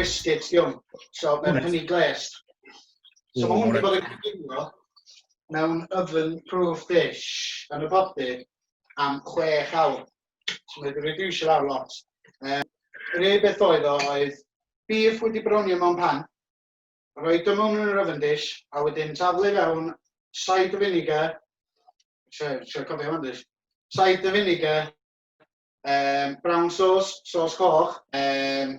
biscuits di hwn. So mae'n hynny glest. So mae hwn wedi bod yn cyflwyno mewn oven proof dish yn y body am chwech awr. Mae dy wedi eisiau lawr lot. Um, yr unig beth oedd o oedd beef wedi browni mewn pan, rhoi dy mewn yn yr oven dish, a wedyn taflu fewn said o vinegar, sio cofio hwn dys, said o vinegar, um, brown sauce, sauce coch, um,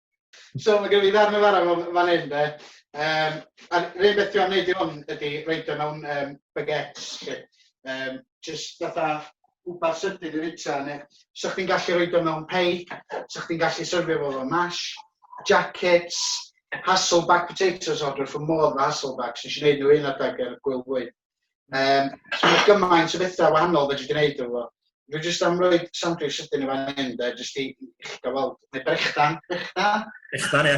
So mae gen i ddarn yn fara fan hyn de. Um, a'r rhaid beth dwi'n gwneud i hwn ydy reid o mewn um, baguettes. Lle. Um, just fatha wbeth sydyn i fita neu sa chdi'n gallu reid o mewn pei, sa chdi'n gallu syrfio fo fo mash, jackets, Hasselback potatoes order for more than Hasselbacks. Nes i wneud nhw un adeg ar y gwyl fwyd. Um, so mae gymaint o bethau wahanol fe dwi'n gwneud efo. Dwi'n jyst am roi sandwich sydyn i fan hyn, da, jyst i eich gofod. Neu brechdan, brechdan. Brechdan, ie.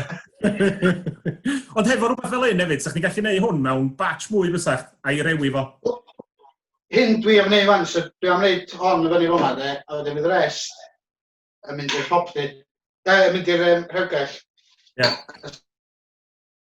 Ond hefo rhywbeth fel un hefyd, sa'ch chi'n gallu gwneud hwn mewn batch mwy bysach, a'i rewi fo. Hyn dwi am wneud fan, so dwi am wneud hon y fyny fona, de, a wedyn fydd rest yn mynd i'r hopdy. Da, yn mynd i'r um, rhewgell. Ie. Yeah.